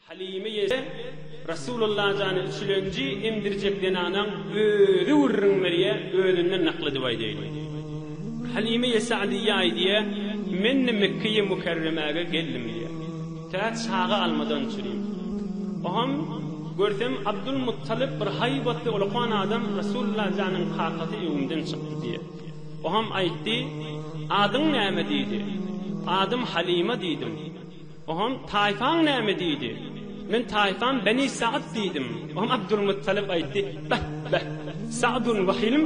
Halymy ýese, Resulalla jany çülenji emdirjek zenanaň özi gürrüň berýä, özünden nakl edip aýdaýlyn. Halymy ýese Alyýa aýdýa, Men-de Mekgeýi Mükerremäge geldim diýýä. Tä çaga almadan çürim. Oham, görsem Abdul Muttalyp bir haýbatly ulukan adam Resulalla janyň kakasy öwümden çykdy diýýä. Oňam aýtdy, Adyň näme? diýdi. Adym Halyma diýdim. Oňam, Taýfaň näme? diýdi. Men taýfam Beni Sa'd diýdim. Oňam Abdulmuttalyp aýtdy, Beh, beh, Sa'dun we Hilm,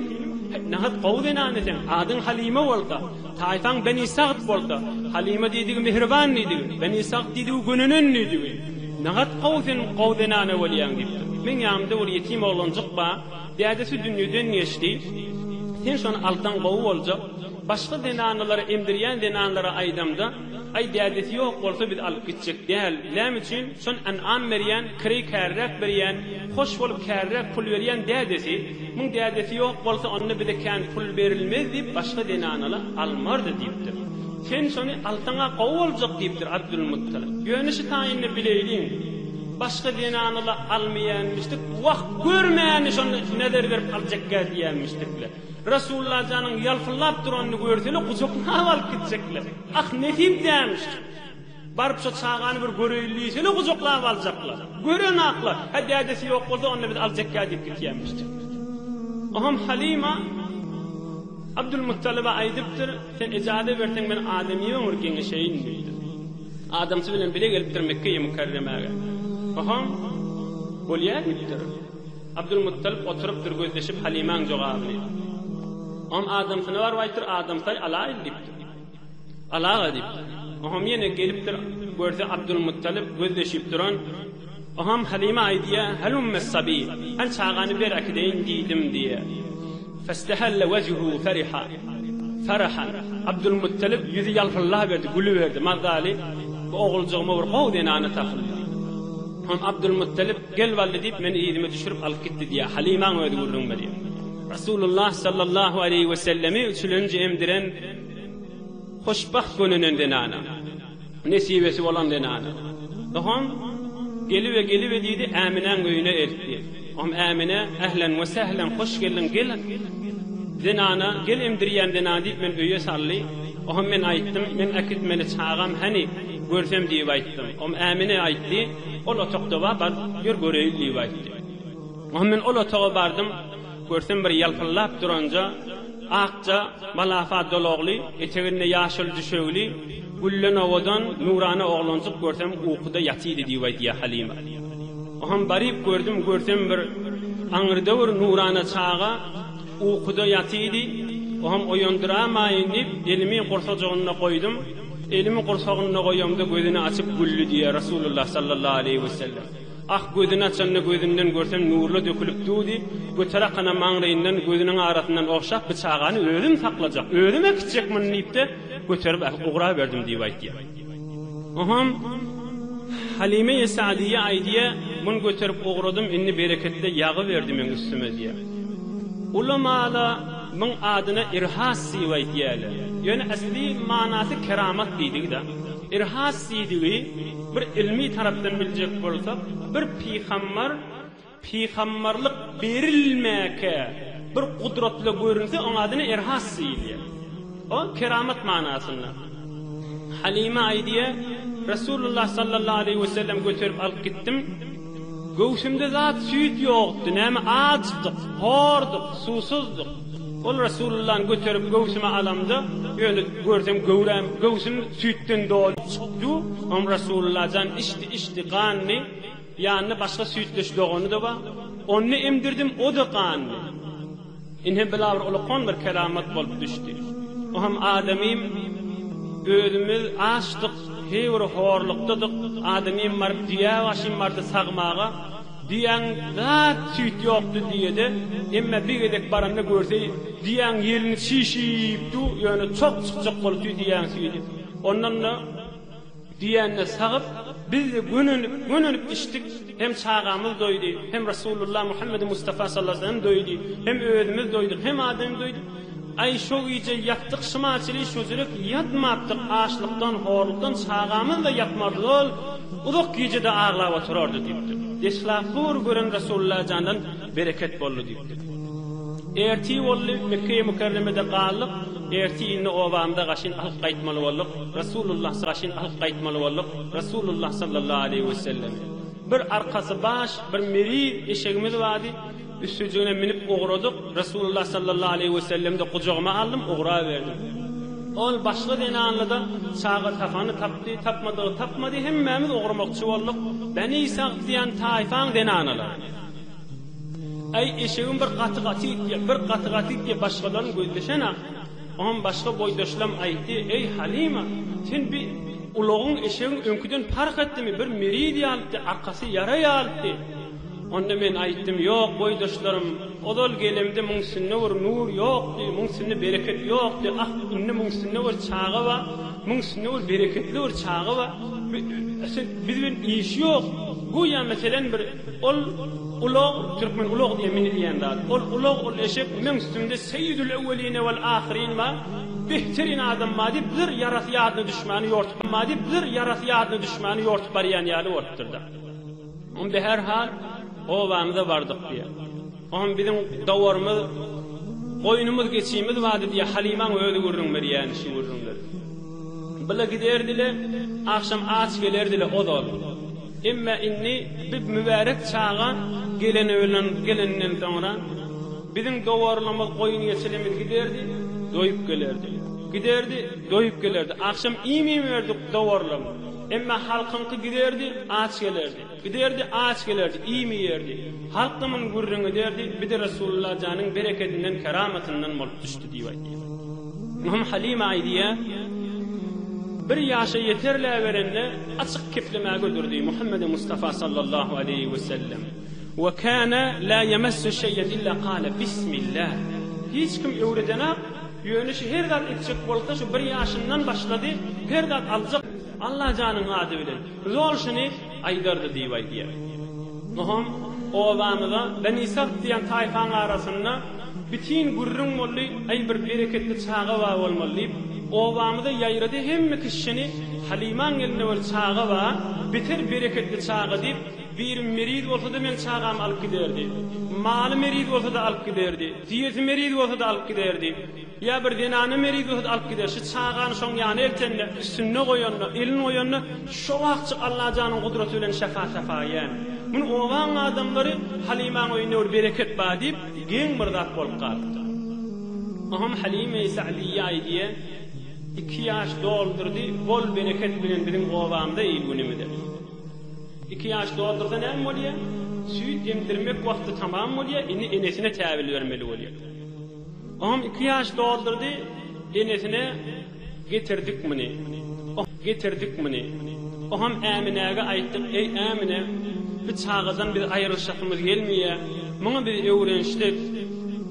nahat gowy zenany sen, adyň Halyma bolsa, taýfaň Beni Sa'd bolsa, Halyma diýdigi mähriban diýdigi, Beni Sa'd diýdigi gönenen diýdigi, nahat gowy sen gowy zenana bolýaň diýipdir. Meň ýanymda bir ýetim oglanjyk bar. Dädesi dünýeden geçdi. Sen şony alsaň gowy boljak. Başga zenanlara emdirýän zenanlara aýdamda, Aý dädesi ýok bolsa biz alyp gitjek däl. Näme üçin? Şon ynam berýän, kireý käriräk berýän, hoş bolup käriräk pul berýän dädesi. Muň dädesi ýok bolsa onda bize kän pul berilmez diýip başga zenanala almardy diýipdir. Sen şony alsaň-a gowy boljak diýipdir Abdulmuttalip. Ýöne şu taýynda bileýliň. Başga zenanala almaýanmyşdyk, wah, görmäni şonda nezer berip aljakgä diýenmişdikle. Resullajanyň ýalpyldap duranyny görsele gujaklap alyp gitjekler. Ah, nesip dämişdi. Baryp şo çagany bir göreýin diýsele gujaklap aljaklar. Görenaklar, hä dädesi ýok bolsa onda biz aljakgä diýip gitýänmişdik. Oham Halyma Abdulmuttalyba aýdypdyr, sen ejaze berseň men adamy ýöňür geňeşeýin diýipdir. Adamsy bilen bile gelipdir Mekge-i Mükärremäge. Hohom, bolýar diýipdir. Abdulmuttalyp oturypdyr gözleşip Halymaň jogabyny. Oňam adamsyna baryp aýtdyr, Adamsy-aý, alaýyl diýipdir. Al aga diýipdir. Hohom ýene gelipdir, görse Abdulmuttalyp gözleşip duran. Oňam Halime aýdýar, Halumma sabi, Al çagany ber äkideýin diýdim diýýär. Fastahalla wejhu fariha, Farahan, Abdulmuttalip ýüzi ýalpyllaberdi, gülüberdi, mazaly, bu oguljygma bir gowy zenana tapyldy. Oňam Abdulmuttalip, Gel Wally diýip, meni yzyma düşürip alyp gitdi diýýär. Halimaň özi gürrüň berýär. Rasulullah sallallahu aleýhi wesellemi üçülenji emdiren hoşbagt gönenen zenana. Nesibesi bolan zenana. Soham Gelibe, gelibe diýdi, Äminäň öýüne eltdi. Soham Ämine, Ählen we sählen, hoş geldiň, gel zenana, gel emdirýän zenana diýip meni öýe saldy. Soham men aýtdym, men äkitmeli çagam hany, görsem diýip aýtdym. Soham Ämine aýtdy, Ol otagda bar, bar, ýör göreýin diýip aýtdy. Soham men ol otaga bardym. Görsem bir ýalpyldap duranja, akja, malafa dolagly, eteginde ýaşyl düşegli, gülden owadan, nurana oglanjyk görsem ukuda ýatydy diýip aýdýar Halima. Oham baryp gördüm, görsem bir aňrdöwür nurana çaga ukuda ýatydy, oham oýandyramaýyn diýip, elimi gursajygynda goýdum, elimi gursagynda goýamda gözüni açyp güldi diýýär Resulullah sallallahu aleýhi wesellem. Ah, gözüni açanda gözünden görsem nurla dökülip dudy, göter akana maňlaýyndan gözüniň arasyndan ogşap bi çagany özüm saklajak, özüm äkitjek muny diýipde göterip äkip ugraberdim diýip aýtýar. Oham Halymeýi Sadyýe aýdýar, muny göterip ugradym indi bereketle ýagy berdi meň üstüme diýär. Ulamala muň adyna irhas diýip aýtýarlar. Ýöne äsli manasy keramat diýdigi-da. Irhas diýdigi bir ylmy tarapdan biljek bolsak, bir pygambar pygambarlyk berilmäkä bir gudratly görünse, oň adyna Irhas diýilýär. O keramat manasynda. Halyma aýdýar, Resulullah sallallahu aleýhi we sellem göterip alyp gitdim. Göwsümde zat süýt ýokdy, näme açdyk, horduk, suwsuzduk. Ol Resulullany göterip göwsüme alamda, ýöne görsem göwräm, göwsüm süýtden doly çykdy. Oňa Resulullah jan içdi, içdi, gandy. Ýanynda başga süýtdeş dogany-da bar. Ony emdirdim, o-da gandy. Ine bila bir ulkan bir keramat bolup düşdi. O hem adamym özümiz açdyk, heý bir horlukdadyk, adamym baryp düýä başym bardy sagmaga, düýäň zat süýt ýokdy düýede, emme bir gezek baranda görse düýäň ýelini çişip dur, ýöne çog çykjak bolupdy düýäň süýdi. Ondan-da. Diýende sagyp, Biz-de gönenip, gönenip içdik, hem çagamyz doýdy, hem Resulullah Muhammedi Mustafa sallasem doýdy, hem özümiz doýduk, hem adam doýdy. Aý, şo gije ýatdyk şymaçyly şojurek ýatmapdyk, açlykdan, horlukdan çagamyz-da ýatmardy ol, uzak gije-de aglap oturardy diýipdir. Deslap bu bir gören Resulullah jandan Bereket boldy diýipdir. Ertir boldy, Mekge-i Mükerremede galdyk, ertir indi obamyza gaşyn alyp gaýtmaly bolduk, Resulullahsy gaşyn alyp gaýtmaly bolduk, Resulullah sallallahu aleýhi we sellem. Bir arkasy baş, bir meri eşegimiz bardy, üstüjigine minip ugradyk, Resulullah sallallahu aleýhi we sellemde gujagyma aldym, ugraberdim. Ol başga zenanlyda çaga tapany tapdy, tapmadygy tapmady, hemmämiz ugramakçy bolduk, Beni Sagt diýen taýfaň zenanalary. Äý, eşegim bir gaty gaty itýä, bir gaty gaty itýä, başgalaryň gözleşen-ä. Oňam başga boýdaşlam aýtdy, Äý, Halyma, sen bi ulagyň eşegiň öňküden parh etdimi, bir meriz ýalypdy, arkasy ýara ýalypdy. Onda men aýtdym, Ýok, boýdaşlarym, ozal gelemde muň üstünde bir nur ýokdy, muň üstünde bereket ýokdy, ah, indi muň üstünde bir çaga bar, muň üstünde bir bereketli bir çaga bar. Bi, sen, biz bilen işi ýok. Göýä, meselem, bir. Ol ulag, türkmen ulag diýýär, mini diýýän zat. Ol ulag, ol eşek, meň üstümde seýidül öwwelin wal ahyrin bar, behteryn adam bar diýip, bir ýarasy ýadyna düşmäni ýortup bar diýip, bir ýarasy ýadyna düşmäni ýortup barýan ýaly bolupdyr-da. Onda, herhal, obamyza bardyk diýýär. Oňam biziň dawarymyz, goýnumyz, geçimiz bardy, diýýär. Halymaň özi gürrüň berýärdi şu gürrüňleri. Bile giderdi-le, agşam aç gelerdi-le ozal. Emma indi bu mübärek çaga geleni bilen geleninden soňra, biziň dawarlymyz, goýun-geçilimiz giderdi, doýup gelerdi. Giderdi, doýup gelerdi. Agşam iým iýmerdik dawarlym. Emma halkyňky giderdi, aç gelerdi. Giderdi, aç gelerdi, iým iýerdi. Halkymyň gürrüňi ederdi, Bir de Resulullah janyň berekedinden, keramatyndan bolup düşdi diýip aýdýar. Ymam Halyma aýdýar, Bir ýaşa ýeterläberende açyk keplemä göderdi, Muhammedi Mustafa sallallahu aleýhi we sellem, Ve kana la yamassu şeyen illa qala Bismillah. Hiç kim öwredenak, ýöne şu her zat etjek bolsa şu bir ýaşyndan başlady, her zat aljak Allajanyň ady bilen. Zol şuny aýdardy diýip aýdýar. Nohum, Obamyza Benisagt diýen taýpaň arasynda bitin gürrüň boldy, aý bir bereketli çaga bar bolmaly diýip, obamyza ýaýrady, hemme kişi şuny Halymaň elinde bir çaga bar, beter bereketli çaga diýip, birim meriz bolsa-da meň çagamy alyp giderdi. Maly meriz bolsa-da alyp giderdi. Düýesi meriz bolsa-da alyp giderdi. Ýa bir zenany merigohd alyp gider, şu çagany şoň ýana eltende, üstünde goýanda, elin goýanda, şo wagtjyk Allajanyň gudraty bilen şäpa-säpa ýän. Muny obaň adamlary Halymaň öýünde bir bereket bar diýip, geň bir zat bolup galypdyr. Oňam Halyma-i Sa'diýýe aýdýa, Iki ýaş doldurdy, bol bereket bilen biziň obamyza il-günümize. Iki ýaş doldursa näme bolýa? Süýt emdirmek wagty tamam bolýa, indi enesine täbil bermeli bolýa. Oňam iki ýaş doldurdy, enesine getirdik muny, oh, getirdik muny. Oňam Äminäge aýtdyk, eý, Ämine, bu çagadan biz aýrylyşasymyz gelmeýä, muňa biz öwrenişdik.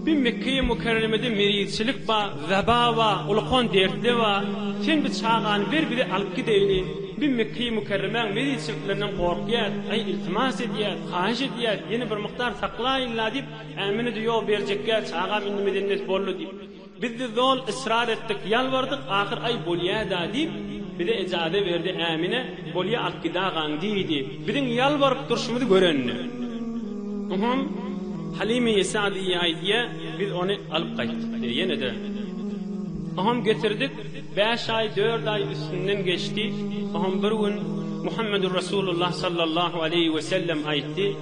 Bu Mekgeýi Mükerremede merizçilik bar, weba bar, ulkan dertler bar. Sen bu çagany ber, bize alyp gideýli. Biz Mekgeýi Mükerremäň merizçiliklerinden gorkýas, aý, iltimas edýäs, haýyş edýäs, ýene bir mukdar saklaýyn-la diýip, Ä münidi ýok berjekgä çagam indi medennet boldy diýip. Bizdi zol ysrar etdik ýalbardyk ahyr aý bolýada diýip bize ejaze berdi ä mine bolýa alyp gidagaň diýdi biziň ýalbaryp durşumyzy görende uhum Halime ýesa diýýaý diýä biz ony alyp gaýtdyk diýä ýenede uhum getirdik bäş aý dört aý üstünden geçdi uhum bir gün Muhammedur Rasulullah sallallahu aleýhi wesellem aýtdy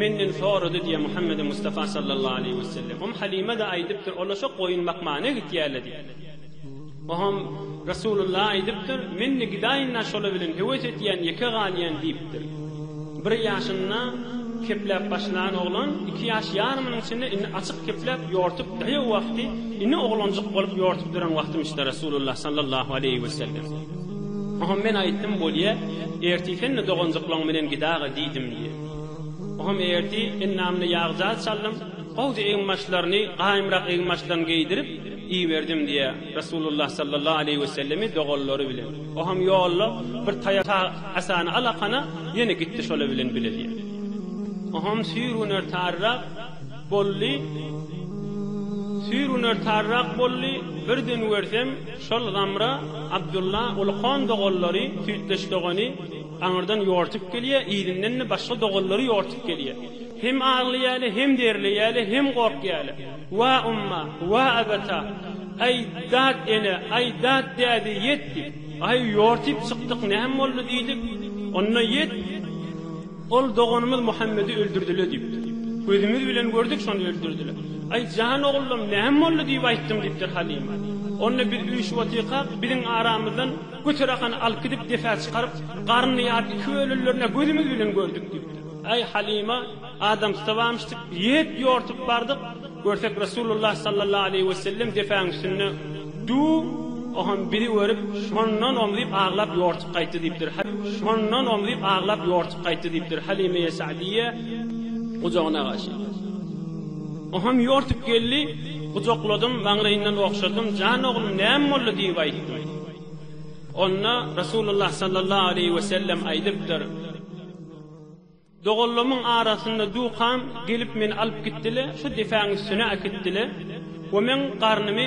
Menden sorady diýýär Muhammedi Mustafa sallallahu aleýhi wesellem. Umm Halime-de aýdypdyr, Ola şo goýun bakmana gitýärler diýip. Oňam Resulullah aýdypdyr, Men-de gidaýyn-la şola bilen höwes etýän, ýeke galýan diýipdir. Bir ýaşynda kepläp başlan oglan iki ýaş ýarymynyň içinde indi açyk kepläp ýortup daýaw wagty ini oglanjyk bolup ýortup duran wagtymyş-da Resulullah sallallahu aleýhi wesellem. Oňam men aýtdym, Bolýa, ertir sen-de doganjyklaň bilen gidaga diýdim diýip. Oňam erti ennamyna ýag-jaz çaldym, gowja eginbaşlaryny gaýymrak eginbaşdan geýdirip iberdim diýýär. Resulullah sallallahu aleýhi wesellemi doganlary bilen. Oňam ýolda bir taýak ta asany alakana ýene gitdi şolar bilen bile diýýär. Oňam süýr gün ertarirak boldy, süýr gün ertarirak boldy, birden görsem şol Zamra, Abdulla, Ulkon doganlary, Süýtdeş dogany, Aňyrdan ýortup gelýä, yzyndan-da başga doganlary ýortup gelýä. Hem aglaýaly, hem derleýäli, hem gorkýaly. Wa umma, wa abata! Aý, dat ene, aý, dat däde, ýet! diýip. Aý, ýortyp çykdyk, näme boldy? diýdik. Onda ýet, ol doganymyz Muhammedi öldürdiler diýipdir. Gözümiz bilen gördük, şony öldürdiler. Aý, jan ogullarym, näme boldy? diýip aýtdym diýipdir Halyma. Onda biz üýşüp otyrkak, biziň aramyzdan. Göterahany alyp gidip depä çykaryp, Garny ýaryp iki bölünlerine gözümiz bilen gördük diýipdir. Äý Halyma, adamsyda bamyşdyk, iýip, ýortup bardyk, görsek Resulullah sallallahu aleýhi wesellem depäň üstünde dur, oham bizi görüp, şondan omzup aglap ýortup gaýtdy diýipdir. Şondan omzup aglap ýortup gaýtdy diýipdir. Halymeýe Sa'diýýe gujagyna agaşyp. Oham ýortup geldi, gujakladym, maňlaýyndan ogşadym, Jan oglum, näme boldy? diýip aýtdym. Onda Resulullah sallallahu aleýhi we sellem aýdypdyr, Doganlamyň arasynda dukam gelip meni alyp gitdiler, şu depäň üstüne äkitdiler we meň garnymy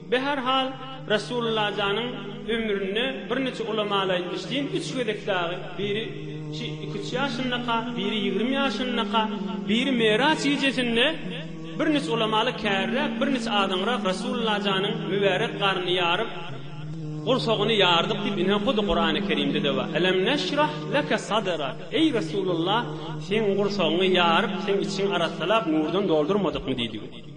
Be her hal Resulullajanyň ömründe birniçe ulamaly aýtmyş diýin üç gezek dagy biri şi iki üç ýaşyndaka biri ýigrimi ýaşyndaka biri Meraç gijesinde birniçe ulamaly kärräk birniçe azaňrak Resulullajanyň mübärek garnyny ýaryp gursagyny ýardyk diýip ine hudy Kurany Kerimde de bar Elem neşrah leke sadrak eý Resulullah seň gursagyňy ýaryp seň içiňi arassalap nurdan doldurmadykmy diýdigi.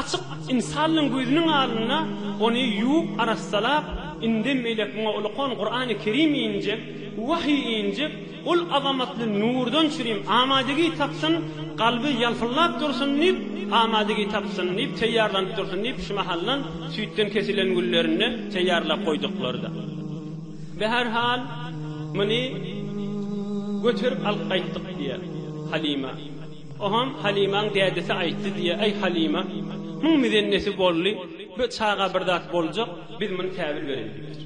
Açyk ynsanlaň gözüniň alynda ony ýuwup arassalap, indem beýläk muňa ulakan Kurany Kerim injek, wahyý injek, ol azamatly nurdan çürim amadygý tapsyn, kalby ýalpyllap dursun diýip, amadygý tapsyn diýip, teýýarlanyp dursun diýip şu mahaldan süýtden kesilen güllerini teýýarlap goýduklardy. Bi her hal muny göterip alyp gaýtdyk diýýär Halyma. Oham Halymaň dädesi aýtdy diýýär, Aý Halyma, muň mizennesi bolly, bu çaga bir zat boljak, biz muny täwil bereýin diýipdir.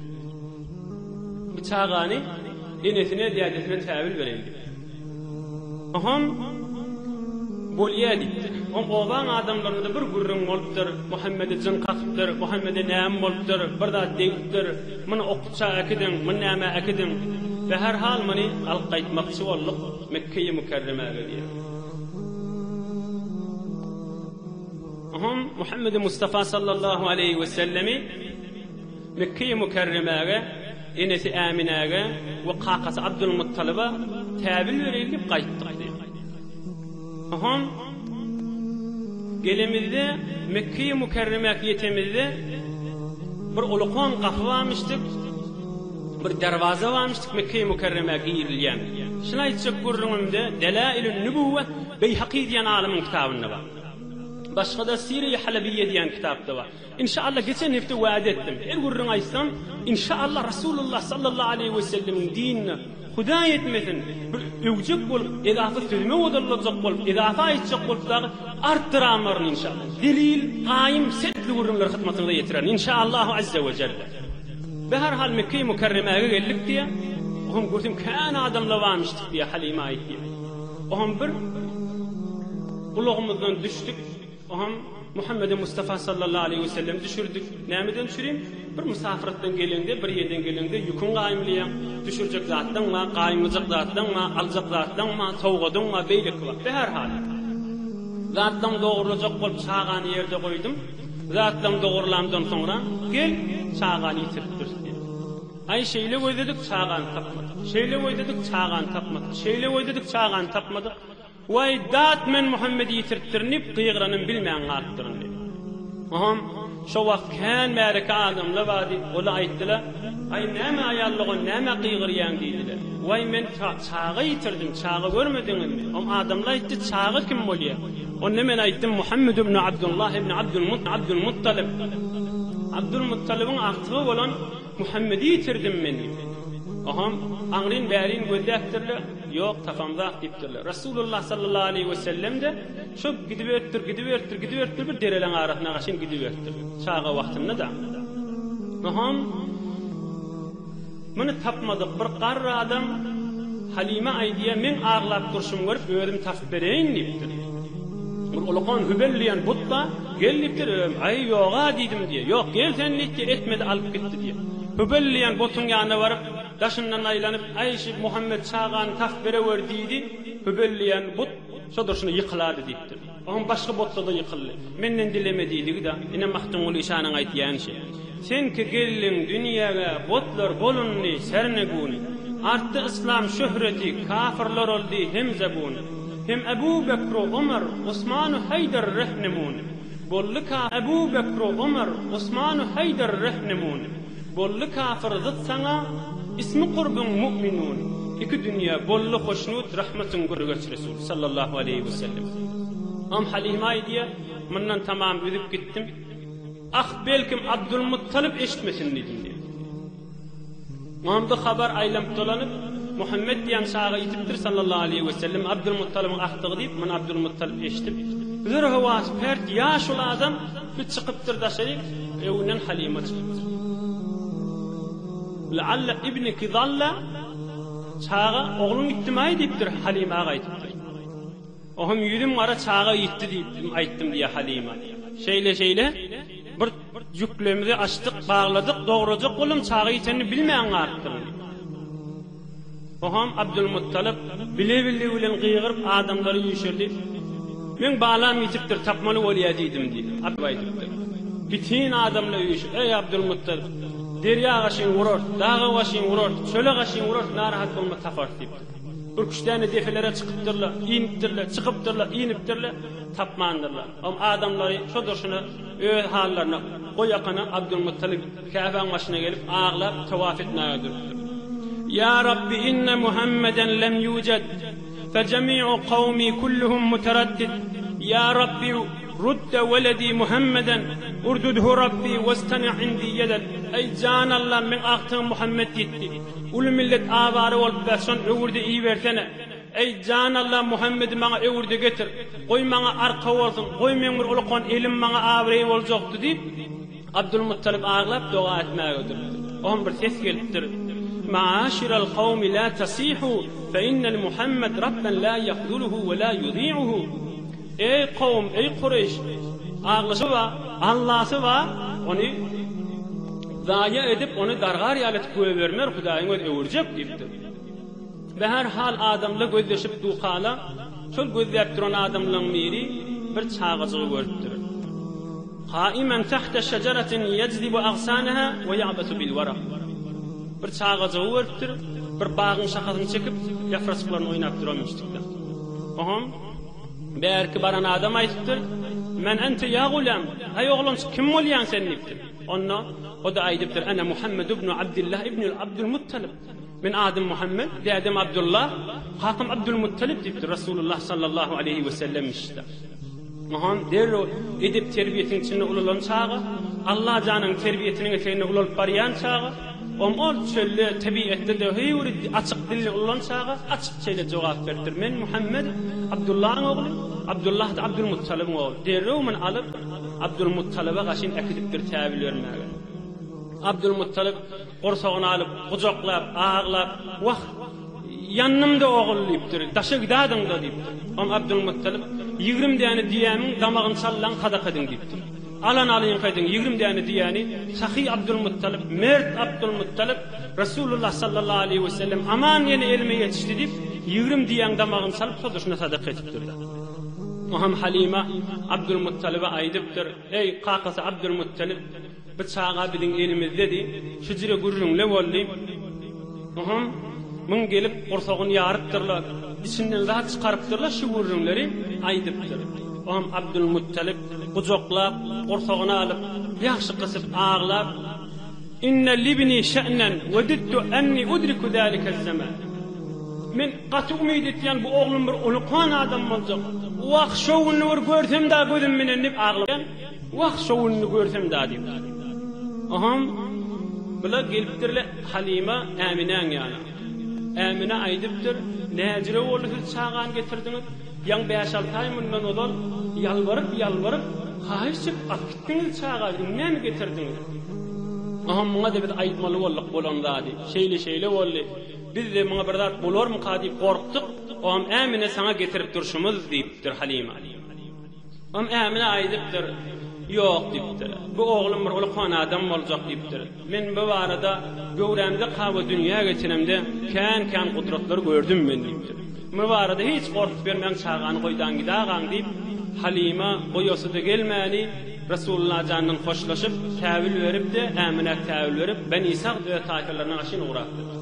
Bu çagany enesine, dädesine täwil bereýin diýipdir. Oham Bolýa diýipdir. Oň obaň adamlarynda bir gürrüň bolupdyr, Muhammede jyn kakypdyr, Muhammede näme bolupdyr, bir zat degipdir, muny okutja äkidiň, muny nämä äkidiň. Be her hal muny alyp gaýtmakçy bolduk. Mekgeýi Mükerremä gelýär. Oňam Muhammedi Mustafa sallallahu aleýhi we sellemi Mekgeýi Mükerremäge enesi Äminäge we kakasy Abdulmuttalyba täbin bereýin diýip gaýtdyk diýip. Oňam gelemizde Mekgeýi Mükerremäge ýetemizde bir ulukan gapy barmyşdyk. Bir derwaza barmyş Mekge-i Mükerremä girilýän. Şuny aýtjak gürrüňimde Delailün Nübüwwe Beýhaky diýen alymyň kitabynda bar. Başga-da Sire-i Halebiyye diýen kitapda bar. Inşaallah geçen hepde wada etdim. Her gürrüň aýtsam, inşaallah Rasulullah sallallahu aleýhi we sellemiň dinine Hudaý etmesin, bir öwjek bolup, edafa sözüme odalyljak bolup, edafa aýtjak bolup dagy artdyranmaryn inşaallah. Zelil, gaýym, sertli gürrüňleri hyzmatyňyza ýetirerin. Inşaallahu azze we jelle. Bäher hal Mekge-i Mükerremäge geldik diýä. Ohan görsem kän adamlar barmyşdyk diýä Halime aýt diýä. Ohan bir ulagymyzdan düşdük. Ohan Muhammede Mustafa sallallahu aleyhi ve sellem düşürdik. Nämeden düşürin? Bir musafratdan gelende, bir ýerden gelende ýüküň gaýymlyýa. Düşürjek zatlaň bar, gaýymlyjak zatlaň bar, aljak zatlaň bar, sowgadyň bar, beýleki bar. Bäher hal. Zatlaň dogrulajak bolup çagany ýerde goýdum. Zatlaň dogrulandan soňra, gel, çagany ýitiripdiris diýdi. Aý, şeýle gözledik, çagany tapmadyk. Şeýle gözledik, çagany tapmadyk. Şeýle gözledik, çagany tapmadyk. Waý, dat, men Muhammedi ýitiripdirin diýip, gygyranyn bilmän galypdyryn diýdi. Oňam şo wagt kän märeke adamlar bardy. Olar aýtdylar, Aý, näme aýallygan, näme gygyrýaň diýdiler. Waý, men Çaga ýitirdiň, çaga görmediňizmi? Oň adamlar aýtdy, Çaga kim bolýar? Onda men aýtdym, Muhammet ibn Abdullah ibn Abdulmuttalyp. Abdulmuttalybyň agtygy bolan Muhammedi ýitirdim men diýdi. Oňam aňryn-bärin gözläpdirler, ýok, tapamzak diýipdirler. Resulullah sallallahu aleýhi wesellem-de şo gidiberipdir, gidiberipdir, gidiberipdir, bir dereleň arasyna gaşyn gidiberipdir. Çaga wagtynda-da. Oňam Muny tapmadyk bir garry adam Halime aýdýar, meň aglap durşumy görüp, özüm tapyp bereýin diýipdir. Bir ulakan Hübel diýen but bar, gel diýipdir, özüm, aý, ýog-a diýdim diýýär. Ýok, gel sen diýipdir, etmedi, alyp gitdi diýýär. Hübel diýen butuň ýanyna baryp, daşyndan aýlanyp, aý, şu Muhammet çagany tapyp berewer diýdi, Hübel diýen but şo durşuna ýykylady diýipdir. Onuň başga botda-da ýykyldy. Menden dileme diýdigi-de, ine Magtymguly şanyň aýtýan şi. Seňki geldiň dünýäge, botlar bolundy serneguni. Artdy yslam şöhreti, kafyrlar oldy hem zabuni. Hem Ebu Bekru Omar, Osmanu Haýdar rehnamuni. Boldy ka Ebu Bekru Omar, Osmanu Haýdar rehnamuni. Bolly kafyr zyt saňa ismi kurbyň mu'minun iki dünýe bolly hoşnut rahmatyň görgeç resul sallallahu aleýhi we sellem Om Halyma aýdýa mundan tamam üzüp gitdim ah belkim Abdul Muttalyp eşitmesin diýdim diýe onda habar aýlanyp dolanyp Muhammet diýen çaga ýitipdir sallallahu aleýhi we sellem Abdul Muttalybyň ahdygy diýip muny Abdul Muttalyp eşitip zora howasy pert ýaşuly adam Biz çykypdyr daşaryk, öňden Halyma çykypdyr. La'alla ibniki zalla, çaga ogluň gitdimi-aý diýipdir, Halyma aga aýdypdyr. O hem ýüzüm gara çaga gitdi diýipdim, aýtdym diýýär Halyma. Şeýle-şeýle bir ýüklerimizi açdyk, bagladyk, dograjak boldum, çaga ýitenini bilmän galypdyryn. Ogam Abdulmuttalyp bile-bille bilen gygyryp adamlary üýşürdi. Men balam ýitipdir, tapmaly bolýar diýdim diýip, Abdulmuttalyp aýdypdyr. Bitin adamlar üýşüp, Eý Abdulmuttalyp, derýa gaşyňy urarys, daga gaşyňy urarys, çöle gaşyňy urarys, narahat bolma taparys diýipdir. Ürküşdäne depelere çykypdyrlar, inipdirler, çykypdyrlar, inipdirler, tapmandyrlar. Ogam adamlary şo durşuna öz hallaryna goýakana Abdulmuttalyp. Käbäň başyna gelip, aglap, tawaf etmäge durupdyr. Ýa Rabbi, inne Muhammeden lem ýujed, fejemi'u kawmi kulluhum muteraddid. Ýa Rabbi, rudde weledi Muhammeden, urdudhu Rabbi westemi' indi yeded. Eý, jan Allam, meň agtygym Muhammet ýitdi. Uly millet awara bolup bes, şony öwürde ibersene. Eý, jan Allam, Muhammedi maňa öwürde getir. Goý, maňa arka bolsun. Goý, meň bir ulukan elim maňa abraý boljakdy, diýip, Abdulmuttalyp aglap doga etmäge durupdy. Oňa bir ses gelipdir, Maaşiral kawmi la tasihu, fe innel Muhammed Rabben la yahzuluhu we la yudi'uhu, Eý kowum, eý Kureýş, aglaşy bar, Allasy bar, ony zaýa edip, ony dargar ýaly edip goýbermer, Hudaýyň özi öwürjek diýipdir. Be her hal adamla gözleşip duhala şol gözläp duran adamlaň biri bir çagajygy görüpdir. Qaimen tahta şejaratin yajzibu agsanaha we ya'basu bil waraq. Bir çagajygy görüpdir, bir bagyň şahasyny çekip, ýapraçyklaryny oýnap duranmyşdykda. Oham bärki baran adam aýdypdyr, Men ente ýa gulam, aý oglanjyk kim bolýaň sen diýipdir. Onda o-da aýdypdyr, Ana Muhammed ibn Abdullah ibn Abdul Muttalib. Men adym Muhammet, dädem Abdulla, kakam Abdulmuttalip diýipdir Rasulullah sallallahu aleýhi wesellem işitdi. Muhammet derrew edep-terbiýesiniň içinde ulalan çagy, Allajanyň terbiýesiniň eteginde ulalyp barýan çagy, om ol çölde, tebigatda döhüri açyk dilini ulalan çagy açyk şeýle jogap beripdir, Men Muhammet, Abdullaň ogly, Abdullah-da Abdulmuttalibiň ogly. Derrew men alyp, Abdulmuttalibe gaşyn äkidipdir täwil bermäge. Abdulmuttalib Gursagyny alyp, gujaklap, aglap, Wah, ýandym-da, ogul! diýipdir. Daşa gidadyň-da! diýipdir. Oňa Abdylmuttalyp, Ýigrim däne düýämiň damagyny çallaň sadaka ediň! diýipdir. Alany alyňka ediň, ýigrim däne düýäni, sahy Abdylmuttalyp, mert Abdylmuttalyp, Resulullah sallallahu aleýhi we sellem aman ýene elime ýetişdi diýip, ýigrim düýäň damagyny çalyp, sodaşyna sadaka edipdir-de. Oňam Halyma Abdylmuttalyba aýdypdyr, Eý, kakasy Abdylmuttalyp! Bir çaga biziň elimizdedi. Hüjre gürrüňli boldy. Ohum, muň gelip gursagyny ýarypdyr-la, içinden zat çykarypdyr-la şu gürrüňleri aýdypdyr. Ohum Abdulmuttalyp gujaklap, gursagyny alyp, ýagşy gysyp aglap, Inne libni şe'nen wedittu enni udriku zalike zaman. Men gaty umyt etýän bu oglum bir uly kuwan adam boljak. Wah, şo gününi bir görsem-dä gözüm menen diýip aglap. Wah, şo gününi görsem dadiýip. Aham, bula gelipdir-le Halyma Äminäň ýana. Ämine aýdypdyr, Näjire boldy siz çagany getirdiňiz? Ýaňy bäş-alty aý mundan ozal ýalbaryp-ýalbaryp, haýyş çekip alyp gitdiňiz çagany, indi näme getirdiňiz? Aham, muňa-da biz aýtmaly bolduk bolan zady. Şeýle-şeýle boldy. Biz-de muňa bir zat bolarmyka diýip gorkduk. Aham, Ämine saňa getirip durşumyz, diýipdir Halyma. Oňa Ämine aýdypdyr. Ýok diýipdir. Bu oglum bir ulkan adam boljak diýipdir. Men bu barada göwrämde kawa dünýä geçenemde kän-kän gudratlar gördüm men diýipdir. Bu barada hiç gorkup ýörmäň çagany goýdan gidagaň diýip, Halyma goýasy-da gelmäni Resullajandan hoşlaşyp, täwül beripdi, Äminä täwül berip, Beni Sag öz taýpalaryna gaşyn ugrapdyr.